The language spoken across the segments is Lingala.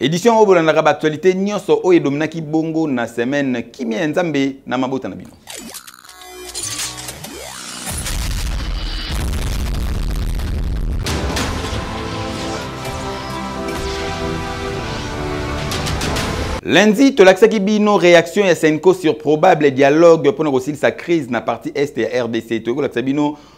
Edition oyo bolandaka ba actualité nyonso oyo edominaki bongo na semaine kimia ya Nzambe na mabota na bino. Lundi, tolakisaki bino réaction ya Senko sur probable dialogue mpo na kosilisa crise na partie est ya RDC. Toyekolakisa bino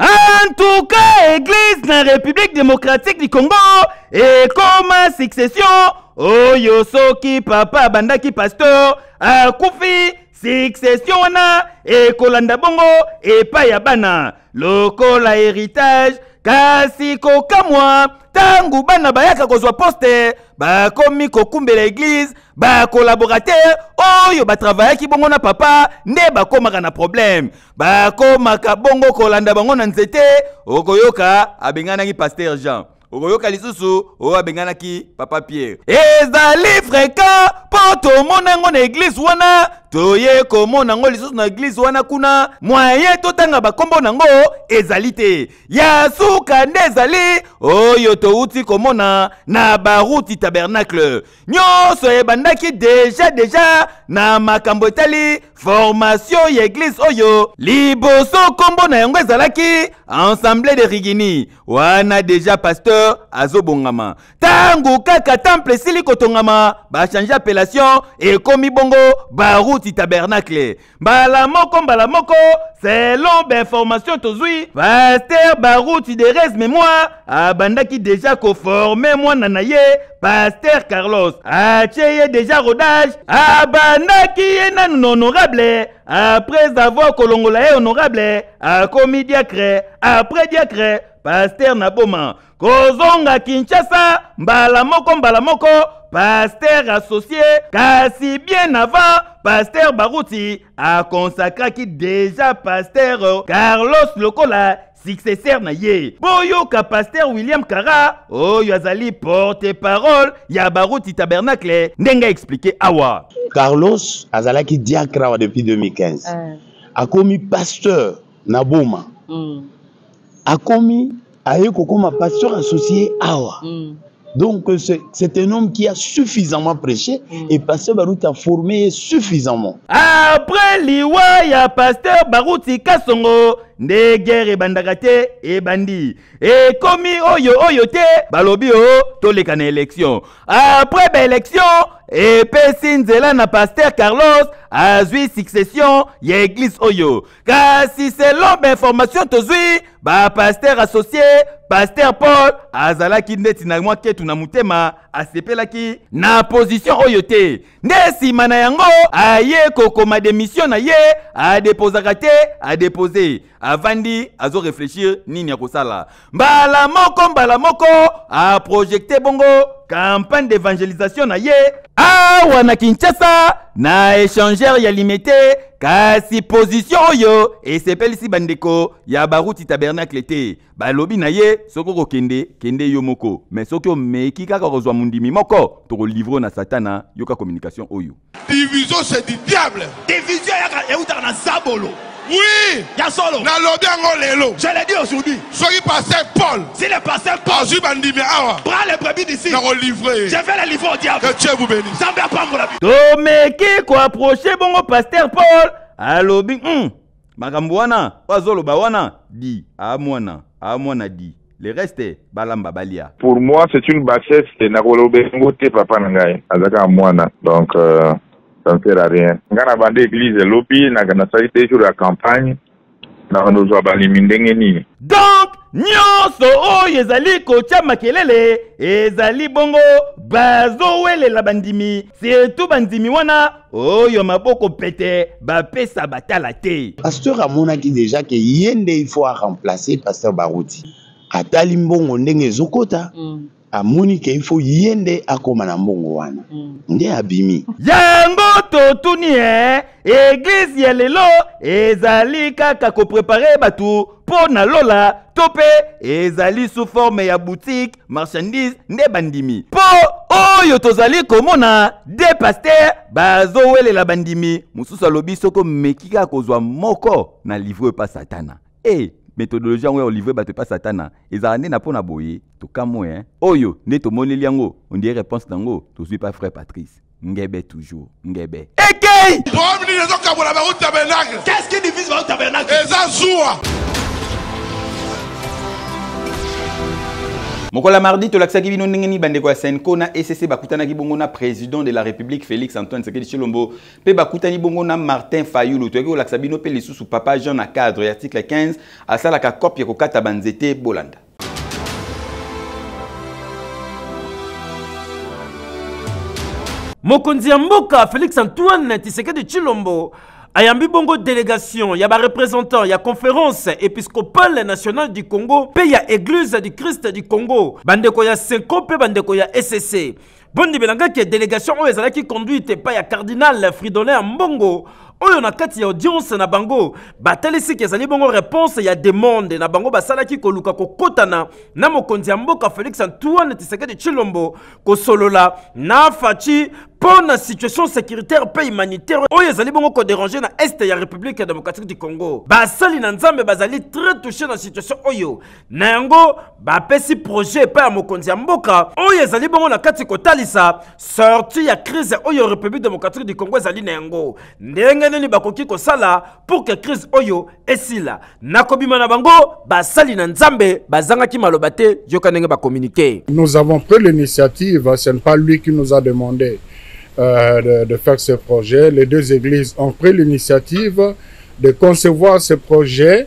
En tout cas, Église na République démocratique du Congo ekoma succession oyo soki papa abandaki pasteur akufi succession wana ekolanda bongo epai ya bana lokola héritage kasi kokamwa ntango bana bayaka kozwa poste bakomi kokumbela eglize ba collaborateur oyo batravayaki bongo na papa nde bakomaka na problème bakomaka bongo kolanda bango na nzete okoyoka abenganaki paster jean okoyoka lisusu oyo abenganaki papa pierre ezali fréquent mpo tomona yango na eglize wana toye komona yango lisusu na eglize wana kuna mwaye totanga bakombo na yango ezali te ya suka nde ezali oyo towuti komona na baruti tabernacle nyonso ebandaki deja deja na makambo etali formasio ya eglize oyo liboso nkombo na yango ezalaki ensemble de rigini wana deja pasteur azobongama ntango kaka temple esili kotongama bachange appellation ekomi bongo baruti tabernacle mbala moko mbala moko selon bainformation tozwi paster baruti derese memoire abandaki deja koforme mwana na ye paster carlos atye ye deja rodage abandaki ye nanu na honorable après avoir kolongola ye honorable akomi diacre après diacre paster na boma kozonga kinshasa mbala moko mbala moko pasteur associe kasi bien avant pasteur baruti akonsakraki deja pasteur carlos lokola successeur na ye boyoka pasteur william kara oyo azali porte parole ya baruti tabernacle ndenge aexplike awa carlos azalaki diacre awa depuis 2015 uh. akomi pasteur na boma mm. akomi aye kokoma pasteur associé awa mm. donc c'est un homme qui a suffisamment prêché mm. et pasteur baruti a formé ye suffisamment après liwa ya pasteur baruti kasongo nde guerre ebandaka te ebandi ekomi oyo oyo te balobi o oh, toleka na élection après baélection epesi nzela na pasteur carlos azwi succession ya eglise oyo kasi selon bainformation tozwi bapaster associe paster paul azalaki ndeti na mwa ketu na motema asepelaki na position oyo te nde nsima na yango aye kokoma demisio na ye adepozaka te adepose avandi azoreflechir nini akosala mbala moko mbala moko aprojekte bongo campagne d'evangelisation na ye awa na kinshasa na échangeur ya limete kasi pozisio oyo esepelisi bandeko ya baruti tabernacle te balobi na ye soki okokende kende yo moko me soki omeki kaka kozwa mondimi moko tokolivre na satana yoka communication oyo Division c'est du diable. Division yaka eutaka na zabolo. Oui. Ya solo. Na lobi yango lelo. Je l'ai dit aujourd'hui. Soki pasteur Paul. Si le pasteur Paul. Azui bandimi awa. Prends les brebis d'ici. Na ko livrer. Je vais les livrer au diable. Que Dieu vous bénisse. Zambe apambola. Tomeki ko approcher bongo pasteur Paul alobi. Hmm. makambo wana oyo azoloba wana di a ah, mwana a ah, mwana di le reste balamba balia pour moi c'est une bassesse te nakoloba yango te papa na ngai azalaka mwana donc euh, ça ne sert à rien ngai na banda église elobi nasali deux jours ya campagne nakozwa balimi ndenge nini donc nyonso oyo ezali kotya makelele ezali bongo bazowelela bandimi setu bandimi wana oyo maboko pete bapesa batala te pasteur amonaki deja ke ye nde il faut aremplace pasteur baruti atali mbongo ndenge ezokota mm. amoni ke il faut ye nde akoma na mbongo wana mm. nde abimi yango totuni e eglize ya lelo ezali kaka koprepare bato mpo na lola to mpe ezali sous forme ya boutique marchandise nde bandimi mpo oyo tozali komona de paster bazowelela bandimi mosusu alobi soki omeki kaka kozwa moko na livre oyo epa satana e hey, methodologie yango ya olivre bato epa satana ezala nde na mpo na boye tokamwe eh? oyo nde tomoneli yango ondie réponse na yango tozwi pa frère patrice Ngebe toujours, ngebe. Ekei! Problème nini ezokabola bango tabernacle? Qu'est-ce qui divise bango tabernacle? Eza zuwa. mokolo ya mardi tolakisaki bino ndenge nini bandeko ya senco na ecc bakutanaki bongo na président de la république félix antoine sekedi tshilombo mpe bakutani bongo na martin fayulu toyaki kolakisa bino mpe lisusu papa jean na cadre ya article 15 asalaka cope ya kokata banzete bolanda mokonzi ya mboka félix antoine tisekedi tshilombo ayambi bongo delegation ya barepresentant ya conference episcopale nationale du congo mpe ya eglise du christ du congo bandeko ya senko mpe bandeko ya ecc bondimela ngai ke delegation oyo ezalaki conduite epai ya cardinal fridolin ya mbongo oyo na kati ya audience na bango batalisi ke ezali bongo reponse ya demande na bango basalaki koluka kokotana na mokonzi ya mboka félix antoine tisekedi tshilombo kosolola na faci mpo na situation sécuritaire mpe humanitaire oyo ezali bongo koderange na este ya république ya démocratique du congo basali na nzambe bazali très touché na situation oyo na yango bapesi projet epai ya mokonzi ya mboka oyo ezali bongo na kati kotalisa sorti ya crise oyo république démocratique du congo ezali na yango ndenge nini bakoki kosala pour ke crise oyo esila na kobima na bango basali na nzambe bazangaki maloba te yoka ndenge bakominike nous avons pris l'initiative ce n'est pas lui qui nous a demandé euh, de, de faire ce projet les deux églises ont pris l'initiative de concevoir ce projet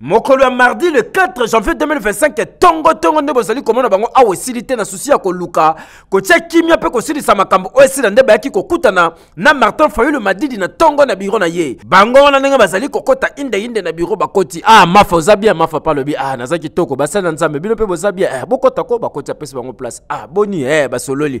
mokolo ya mardi le 4 janvier 2025 tongo tongo nde bozali komona bango awa esili te na susi ya koluka kotya kimia mpe kosilisa makambo oyo esila nde bayaki kokutana na martin fayulu madidi na tongo na biro na ye bango wana ndenge bazali kokɔta indeinde na biro bakoti ah mafa oza bia mafa mpe alobi ah naza kitoko basali na nzambe bino mpe boza bia eh, bokɔta ko bakoti apesi bango place ah boni eh, basololi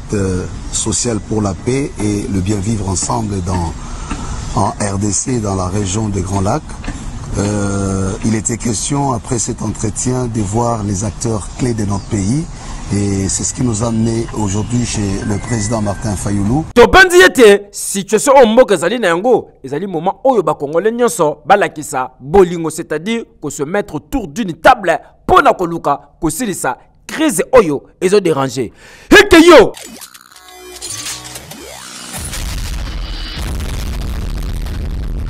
social pour la paix et le bien vivre ensemble dans, en RDC, dans la région des Grands Lacs. Euh, il était question, après cet entretien, de voir les acteurs clés de notre pays. Et c'est ce qui nous a amené aujourd'hui chez le président Martin Fayoulou. tobanzi ete situation oyo mboka ezali na yango ezali moment oyo bakongole nyonso balakisa bolingo c'est-à-dire ko se mettre autour d'une table mpo na koluka kosilisa crise oyo ezo déranger heke yo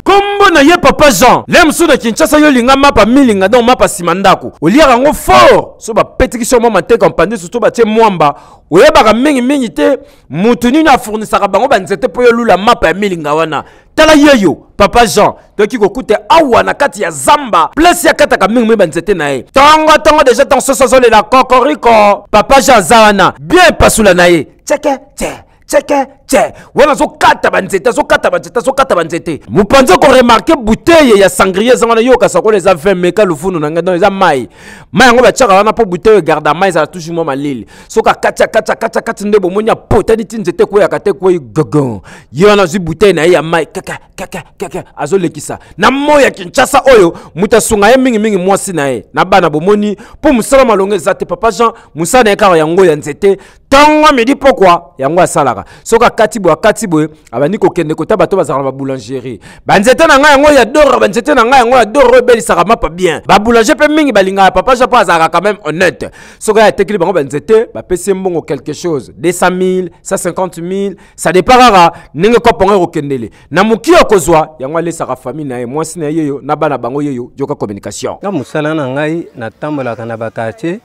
kombo na ye papa jean le mosusu na kinshasa yo olinga mapa milinga donc mapa nsima ndako oliaka yango fort so bapetikisi yo mwa mateka mpandisi to batie mwamba oyebaka mingimingi te moto nini afournisaka bango banzete mpo yolula mapa ya milinga wana tala yeyo papa jean toyoki kokuta awa na kati ya zamba place akataka mingi mingi banzete na ye tongo tongo deja ntango soso azolela kokoriko papa jean aza wana bien epasula na ye ceke ce ceke ce wana azokata banzete azokata banzete azokata banzete mopanzi okoremarke buteye ya sangrie eza wana yoka sakola eza 20 meka lufunu na ngai don eza mai mai yango batiaka wana mpo buteye egarda mai ezala toujours mwa malili soki akati akati akati akati nde bomoni apotani ti nzete ekweyaka te ekwei gogon ye wana azwi butei na ye ya mai kaka kaka kaka azolekisa na moi ya kinshasa oyo moto asunga ye mingimingi mwasi na ye na bana bomoni mpo mosala malonga eza te papa jean mosala na ye kaka yango ya nzete ntongo midi pokwa yango asalaka soki akati boye akati boye abandi kokende kota bato bazalaka na baboulangerie banzete na ngai yango ya doro banzete na ngai yango ya doro oyo ebelisaka mapa bien baboulanger mpe mingi balingaka papa jean mpo azalaka quand même honnête soki atekeli bango banzete bapesi ye mbongo quelque chose 200 000 150 000 ça dépend kaka ndenge kope yango ekokendele na moki okozwa yango alesaka famille na ye mwasi na ye yeyo na bana bango yeyo yoka communication na mosala na ngai natambolaka na bakartier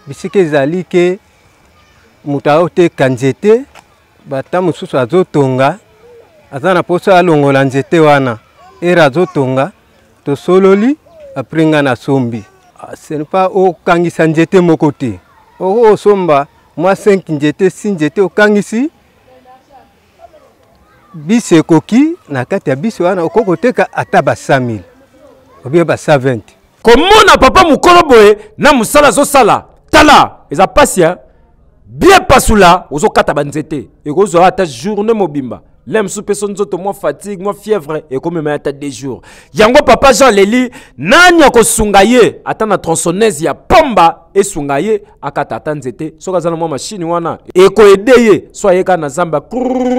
bisika ezali ke moto aoteka nzete bata mosusu azotonga aza na mposa alongola nzete wana ere azotonga tosololi apres nga nasombi senpa ah, okangisa njete moko te oko osomba mwa 5 njete si njete okangisi bisi ekoki na kati ya bisi wana okoki koteka ata ba 100 000 obie ba 120 komona papa mokolo boye na mosala azosala tala eza mpasi ya bien pasula ozokata banzete ekozwa ata journée mobimba le mosusu mpe so nzoto mwa fatigue mwa fièvre ekomema ata de jours yango papa jean leli nani akosunga ye ata na tronçonnaise ya pomba esunga ye akata ata nzete soki aza na mwa mashini wana ekoede ye so ayeka na zamba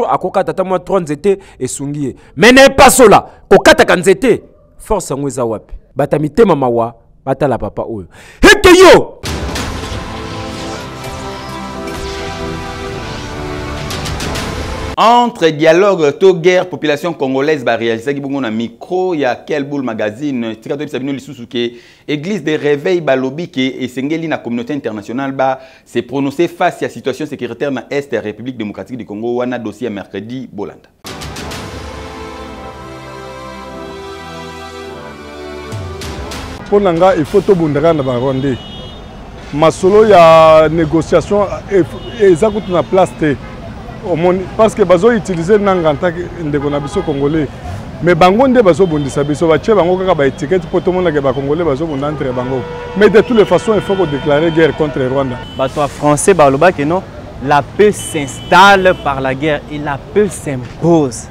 akokata ata mwa 3 nzete esungi ye me na epasola kokataka nzete force yango eza wapi bato ya mitema mawa batala papa oyo heke yo entre dialogue to guerre population congolaise barealisaki bongo na micro ya kelbul magazine tika toyebisa bino lisusu ke église de réveil balobi ke esengeli na communauté internationale ba se prononcer face ya situation sécuritaire na est ya république démocratique du congo wana dossier ya mercredi bolanda mpo na nga il faut tobundaka na barwandais masolo ya négociation eza kutu na place te omoni parce que bazoutilize nanga ntake ndeko na biso congolais mais bango nde bazobundisa biso batye bango kaka baetikete mpo tomonake bacongolais bazobunda entre bango mais de toutes les façons il faut kodéclare guerre contre rwanda bato ya français balobaki non La paix s'installe par la guerre et la paix s'impose.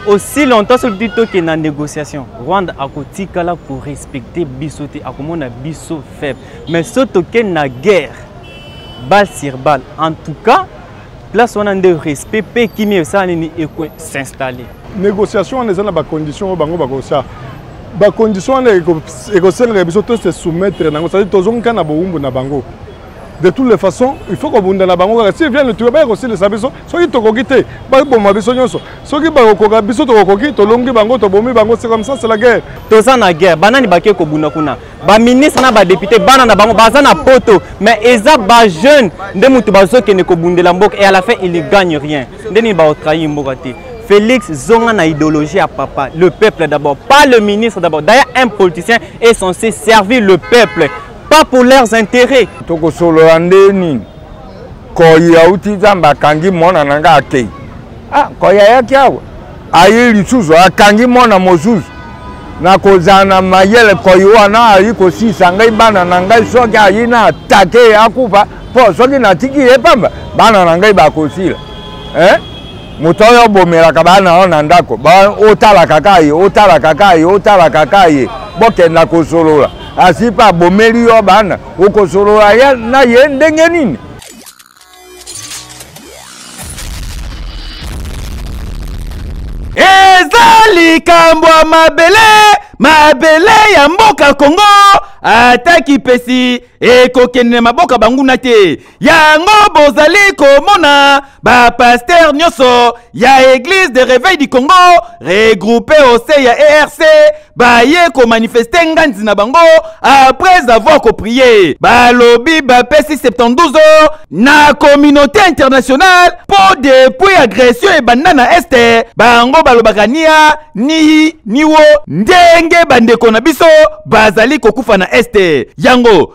Aussi longtemps ce petit token na négociation, Rwanda a kotikala ko respecter biso te, akomona biso faible. Mais ce token na guerre, balle sur balle. En tout cas, place on a de respect pe kimia ça ni et s'installer. Négociation on est dans ba conditions au bango ba ça. Ba conditions on est et ko se soumettre nango, c'est-à-dire tozonga na boumbu na bango. de toutes les façons il faut kobunda na bango kaka si vienne toyo baya kosilisa biso soki tokoki te baboma biso nyonso soki bakokoka biso tokokoki tolongi bango tobomi bango c'est comme ça c'est la guerre toza na guerre banani bake kobunda kuna baministre na badepute bana na bango baza na poto mais eza bajeune nde moto bazokende kobundela mboka et à la fin il ne gagne rien nde nini baotrahi mboka te Félix zonga na idéologie à papa le peuple d'abord pas le ministre d'abord d'ailleurs un politicien est censé servir le peuple pas pour leurs intérêts tokosolola nde nini koyi auti nzambe akangi mwana na ngai akei ah, koyi ayaki awa aye lisusu akangi mwana mosusu nakozala na mayele koyi wana ayi kosisa ngai bana na ngai soki ayi na atake ye akufa mpo soki natiki ye pamba bana na ngai bakosila eh? moto oyo obomelaka bana yo na ndako otalaka ka ye otalaka ka ye otalaka ka ye bokenda kosolola Asi pa bomeli yo bana, okosolola ya na ye ndenge nini? Eza likambo ya mabele, mabele ya mboka Congo ata kipesi ekokende na maboka banguna te. yango bozali komona bapaster nyonso ya eglise de reveil du congo regroupe ose ya erc baye komanifeste nganzi na bango après avoir koprie balobi bapesi 72 heures na communauté internationale mpo depuis agression ebanda na este bango balobaka nia nihi niwo ndenge bandeko na biso bazali kokufa na este yango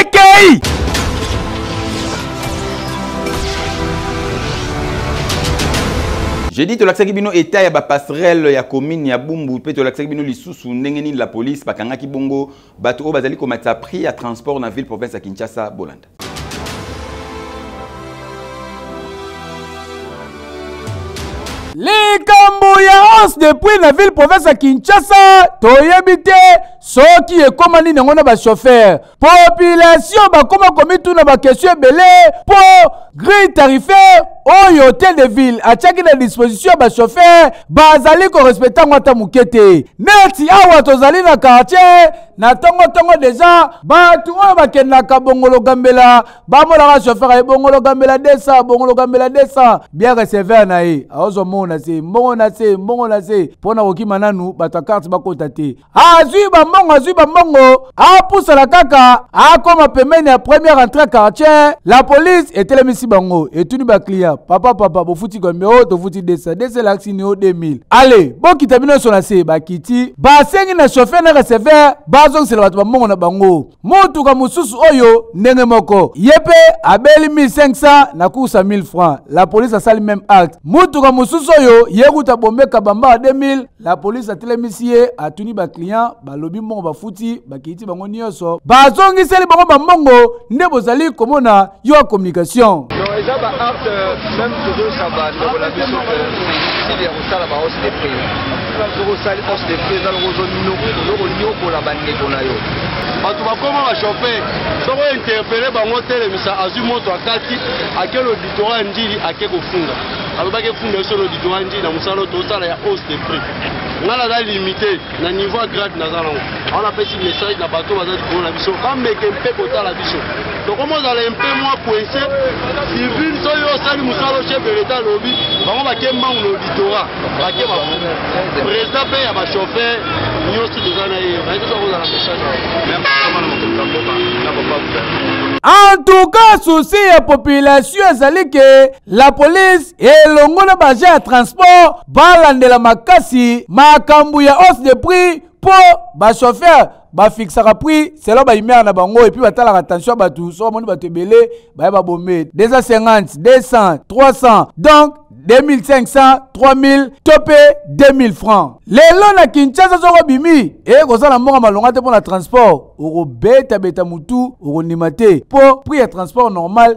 ekei jeudi tolakisaki bino etat ya bapasserele ya commune ya bumbu mpe tolakisaki bino lisusu ndenge nini la police bakangaki bongo bato oyo bazali komatisa prix ya transport na ville province ya kinshasa bolanda likambo ya hausse de prix na ville province ya kinshasa toyebi te soki ekoma nini yango na bashofere population bakoma komituna bakestion ebele mpo grille tarifaire oyo hotel de ville atiaki na disposition ya bashofere bazali korespecte yango ata moke te neti awa tozali na kartier na ntongontongo deja bato oyo bakendaka bongologambela bamonaka shofere ye bongologambela 200 bongologambela 200 bien receveur na ye aozwa mbongo na se mbongo na se mbongo na se mpo na kokima nanu bato ya karte bakota te azwi bambongo azwi bambongo apusana kaka akoma pembeni ya première entrée ya quartier la police etelemisi bango etuni baclient papa papa bofuti combien o tofuti 200 200 elakisi nio 2000 ale bokita bino nyonso na se bakiti basengi na chauffeur na receveur bazongisela bato bambongo na bango motuka mosusu oyo ndenge moko ye mpe abeli 1500 na kursa 1000 francs la police asali meme acte motuka mosusu oyo ye kuta bombe kabamba 2000 la police atelemisi ye atuni baclient balobi mbongo bafuti bakiti bango nyonso bazongiseli bango bambongo nde bozali komona yo ya communication eza ba arte meme tozoyisa bandeko na biso style ya kosala ba hausse de prix soki osali hausse de prix eza loko ozokonyokola bandeko na yo bato bakoma bachauffeur soko interpele bango otelemisa azwi moto akati ake loditorat ya ndili ake kofunga alobaki efunda biso na didwanji na mosala oyo tosala ya hausse de prix ngai naza limité na niveau ya grade naza nango awa napesi message na bato baza likolo na biso bameke mpe kotala biso tokoma ozala mpe mwa coince civil soki yo osali mosala chef de l'état alobi bango bake mbangu na auditora bake ba président mpe ya bachauffeur nyonso toza na ye nayekosa kozala message en tout cas souci ya population ezali ke La police elongo na baje ya transport balandela makasi makambo ya hausse de prix mpo bachauffeur bafiksaka prix selon baimere na bango epuis batalaka tension ya bato so bamoni bato ebele baya babome 250 200 300 donc 2500 3000 to mpe 2000 francs lelo na kinshasa soko obimi ekozala na mbongo malonga te mpo na transport okobetabeta motu okondima te mpo prix ya transport normal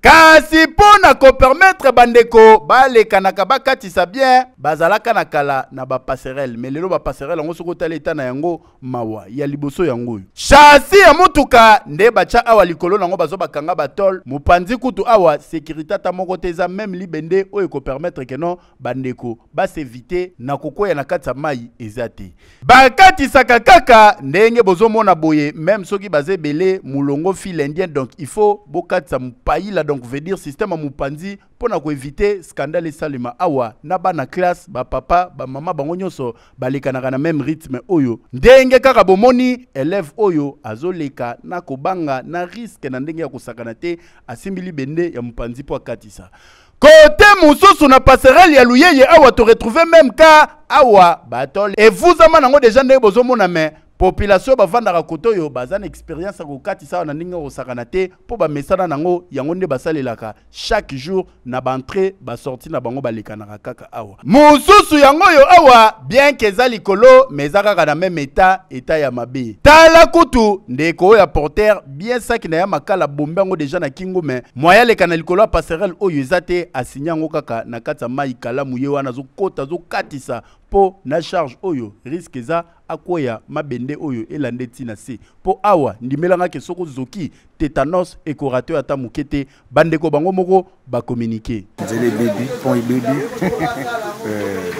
kasi mpo na kopermetre bandeko balekanaka bakatisa bien bazalaka na kala na bapasserele me lelo bapasserele yango soki otali eta na yango mawa ya liboso yango oyo shasi ya motuka nde batya awa likolo na yango bazo bakanga batole mopanzi kutu awa sekirite ata moko te eza meme libende oyo ekopermetre keno bandeko basevite na kokwea na kati ya mai eza te bakatisaka kaka ndenge bozomona boye meme soki baza ebele molongo fil indien donc il faut bokatisa mopaila donc veut dire système ya mopanzi mpo na koevite skandale esalema awa na bana classe bapapa bamama bango nyonso balekanaka na meme rythme oyo ndenge kaka bomoni elève oyo azoleka na kobanga na riske na ndenge ya kosakana te asimbi libende ya mopanzi mpo akatisa Kote mosusu na passerelle ya Luyeye awa to retrouver même cas awa batole evuzama nango deja ndenge bozomona mais population oyo bafandaka kote oyo baza na experience ya kokatisa awa na ndenge kosakana te mpo bamesana nango yango nde basalelaka chaque jour na baentrée basortie na bango balekanaka kaka awa mosusu yango oyo awa bien ke eza likolo mais eza kaka na meme eta eta ya mabe tala kutu ndeko oyo ya porter bien saki na ya makala bombe yango deja na kingo me moya aleka na likolo ya passerelle oyo eza te asinya yango kaka na kati ya mai kalamu ye wana azokota azokatisa mpo na charge oyo riske eza akweya mabende oyo elande ntina se mpo awa ndimelangaki soki ozoki tetanos ekorate ata moke te bandeko bango moko bacommunike nzela ebebi pont ebebi eh,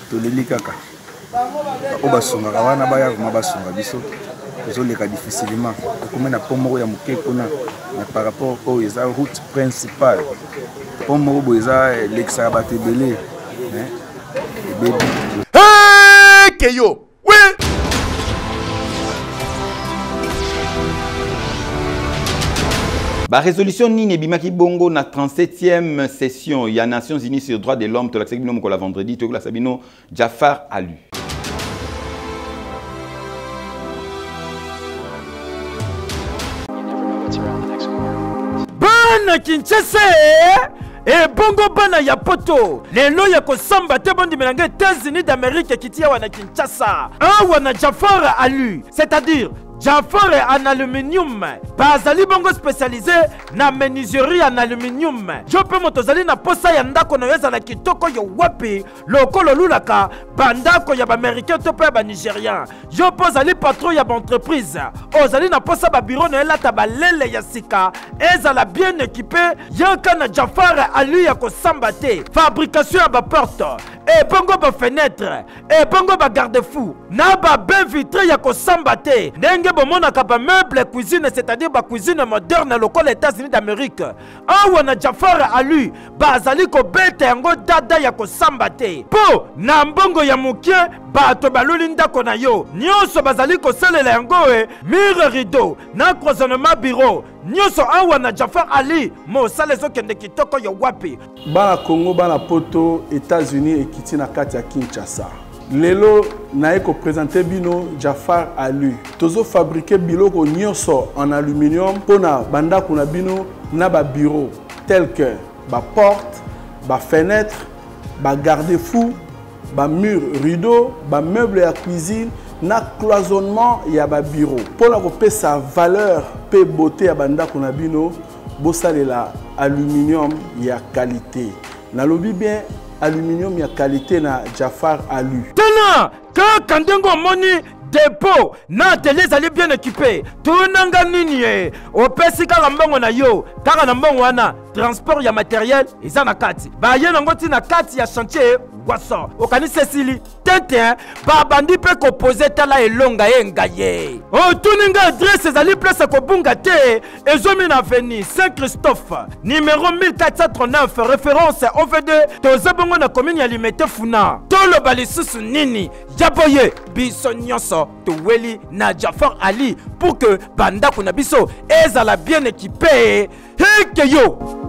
toleli kaka oyo basungaka wana baya vraimen basunga biso tozoleka difficilement tokomi na pont moko ya moke kuna me par rapport oyo eza route principale pont moko boye eza elekisaka bato ebele eh, ebebi eke yo Ba résolution nini ebimaki bongo na 37e session ya Nations Unies sur droit de l'homme tolakisaki bino mokolo ya vendredi tokolakisa bino Jafar Alu. Bana Kinshasa ebongo bana ya poto lelo ya kosamba te bondimela nga etats-unis d'amérique ekiti awa na kinshasa awa na jafar alu c'est-à-dire Jafar en aluminium bazali bongo spécialisé na menuiserie en aluminium yo mpe moto ozali na posa ya ndako na yo ezala kitoko yo wapi lokola olulaka bandako ya baaméricain to mpe ya banigérien yo mpo ozali patron ya baentreprise ozali na mposa babiro na elata balele ya sika ezala bien ekipe yaka na jafare ali ya kosamba te fabrication ya baporte ebongo bafenetre ebongo bagarde fou na babe vitre ya kosamba te ndenge bomonaka bameuble cuisine c'est-à-dire bacuisine moderne lokola états-unis d'amérique awa na jafar alu bazali kobeta yango dada ya kosamba te mpo na mbongo ya moke bato baluli ndako na yo nyonso bazali kosalela yango e mire rideau na croisonnement bureau nyonso awa na jafar ali mosala ezokende kitoko yo wapi bana congo bana poto etats-unis ekiti na kati ya kinshasa lelo naye ko presenter bino Jafar Alu tozo fabriquer biloko nyonso en aluminium mpo na bandako na bino na ba bureau tel que ba porte ba fenêtre ba garde fou ba mur rideau ba meuble ya cuisine na cloisonnement ya ba bureau mpo na kopesa valeur mpe beauté ya bandako na bino bosalela aluminium ya qualité nalobi bien Aluminium ya qualité na Jafar Alu. Tuna kaka ndenge omoni depo na atelier ezali bien ekipe tunanga nini ye opesi kaka mbongo na yo kaka na mbongo wana transport ya materiel eza na kati baye nango ntina kati ya chantier waso okanisi esili tintin babandi mpe kopoze tala elonga ye ngaye otuni oh, nga adresse ezali place ya kobunga te ezomi na veni saint christophe numero 1439 référence ovd toza bongo na komini ya limete funa toloba lisusu nini ya boye biso nyonso toweli na jafar ali pour que bandako na biso ezala bien ekipe heke yo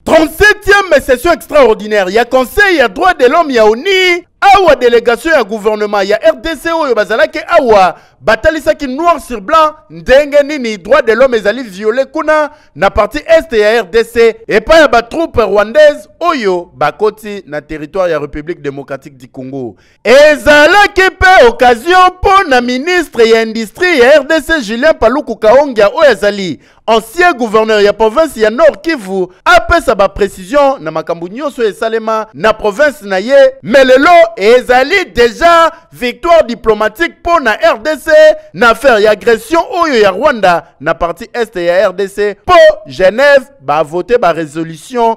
37e session extraordinaire ya conseil ya droit de l'homme ya oni awa delegation ya gouvernement ya rdc oyo bazalaki awa batalisaki noir sur blanc ndenge nini droit de l'homme ezali viole kuna na partie est ya rdc epai ya batroupe rwandaise oyo bakoti na territoire ya république démocratique du congo Ezalaki mpe occasion mpo na ministre ya Industrie ya rdc Julien Paluku Kahongya oyo azali ancien gouverneur ya province ya Nord Kivu apesa ba precisions na makambo nyonso oyo esalema na province na ye mais lelo ezali deja victoire diplomatique mpo na rdc na affaire ya agression oyo ya Rwanda na partie est ya rdc mpo Genève ba vote ba resolution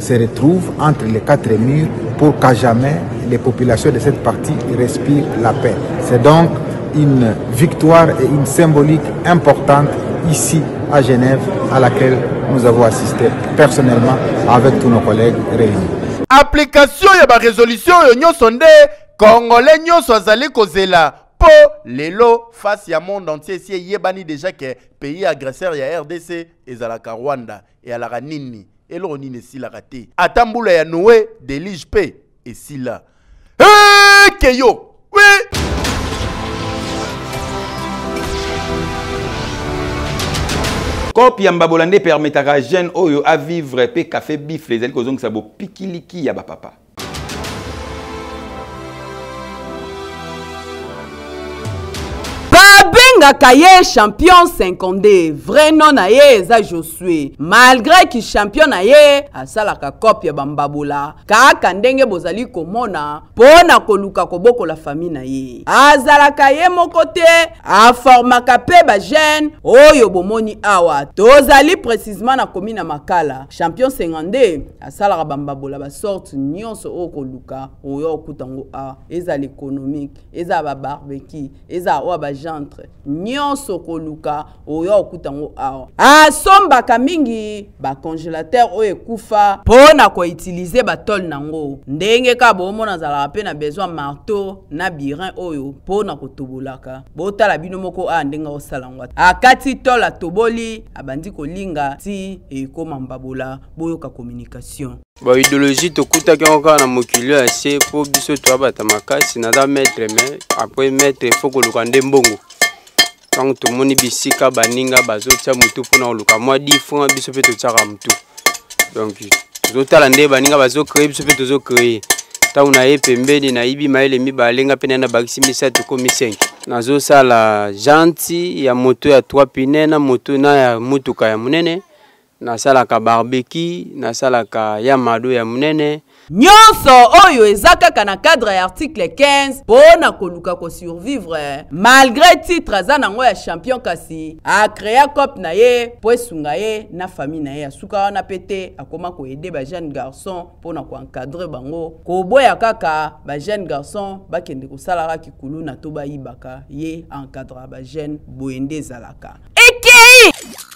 se retrouve entre les quatre murs pour qu'à jamais les populations de cette partie respirent la paix. C'est donc une victoire et une symbolique importante ici à Genève à laquelle nous avons assisté personnellement avec tous nos collègues réunis. Application ya ba résolution yo nyoso nde congolais nyoso azali kozela po lelo face ya monde entier si eyebani déjà que pays agresseur ya RDC ezalaka Rwanda eyalaka nini eloko nini esilaka te ata mbula ya noe delige mpe esila eke yo kope ya mbabola nde epermetaka jeune oyo avivre mpe cafe bifle ezali kozongisa bopikiliki ya bapapa babengaka ye champion 52 vrai nom na ye eza josue malgré ki champion na ye asalaka cope ya bambabola kaka ndenge bozali komona mpo na koluka kobokola fami na ye azalaka ye moko te aformaka mpe bajeune oyo bomoni awa tozali precisement na komi na makala champion 52 asalaka bambabola basorte nyonso oyo koluka oyo okuta yango awa ezala économique ezala babarbeki ezala oyo bagentre nyonso koluka oyo okuta yango awa asombaka mingi bacongélateur oyo ekufa mpo na koutilize batole na yango ndenge kaka boomona azalaka mpe na besoin marteau na birin oyo mpo na kotobolaka botala bino moko awa ndenge akosala yango akati tole atoboli abandi kolinga ti ekoma mbabola boyoka communication ba ideologie tokutaki yango kaka na mokili ya se mpo biso toyabata makasi naza maître mais après maître ifo koluka nde mbongo ntango tomoni bisika baninga bazotia motu mpona koluka mwa di franc biso mpe totiaka motu donc tozotala nde baninga bazocree biso mpe tozocree ntango naye pembeni nayibi mayele mibale nga mpe naye nabakisi misato komi 5 nazosala janti ya moto ya 3 pine na moto na ya motuka ya monene nasalaka barbeki nasalaka ya mado ya monene nyonso oyo eza kaka na cadre ya article 15 mpo na koluka kosurvivre malgre titre aza nango ya champion kasi acrea cope na ye mpo esunga ye na famille na ye asuka wana mpe te akoma koede bajeune garçon mpo na koencadre bango koboya kaka bajeune garçon bakende kosalaka kikuluna to bayibaka ye encadra bajeune boye nde ezalaka ekei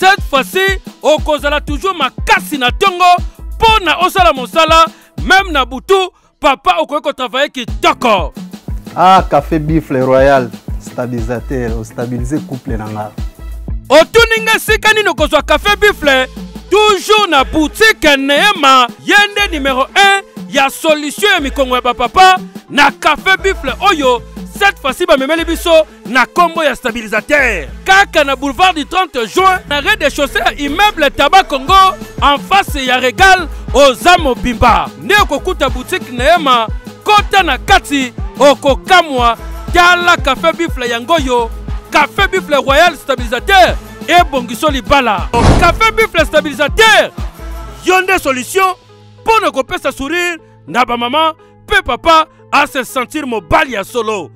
cette fois-ci okozala toujours makasi na tongo mpo na osala mosala meme na butu papa okoki kotravaille kitoko ah café bifle royal stabilisateur ostabilise couple na nga otuni nga esika nini okozwa café bifle toujours na boutique neema ye nde numero 1 ya solution ya mikongo ya bapapa na café bifle oyo cette fois-ci bamemeli biso na kombo ya stabilisateur kaka na boulevard du 30 juin na rez de chaussée ya immeuble taba congo en face ya regal oza mobimba nde okokuta butike na ye ma kota na kati okokamwa tala cafe bifle yango oyo cafe bifle royal stabilisateur ebongiso libala cafe bifle stabilisateur yo nde solution mpo na kopesa sourire na bamama mpe papa ase sentir mobali ya solo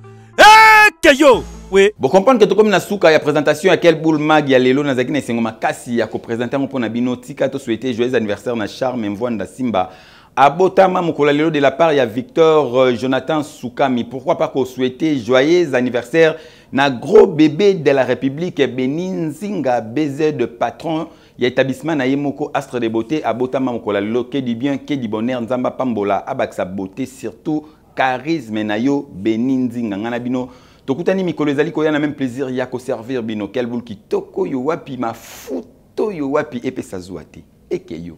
eke yo we bocomprendre ke tokomi na suka ya présentation ya quel boule mag ya lelo nazalaki na esengo makasi ya kopresente yango mpo na bino tika tosouete joyeux anniversaire na charme mvwanda simba abotama mokolo ya lelo de la part ya victor euh, jonathan sukami pourquoi pas kosouete joyeux anniversaire na gros bébé de la république beni nzinga bz patron ya etablissement na ye moko astre de beauté abotama mokolo ya lelo que du bien que du bonheur nzambe apambola abakisa beauté surtout charisme na yo beni nzinga ngai na bino tokutani mikolo ezali koya na meme plaisir ya koservir bino kelbul kitoko yo wapi mafuta oyo wapi epesa zuwa te eke yo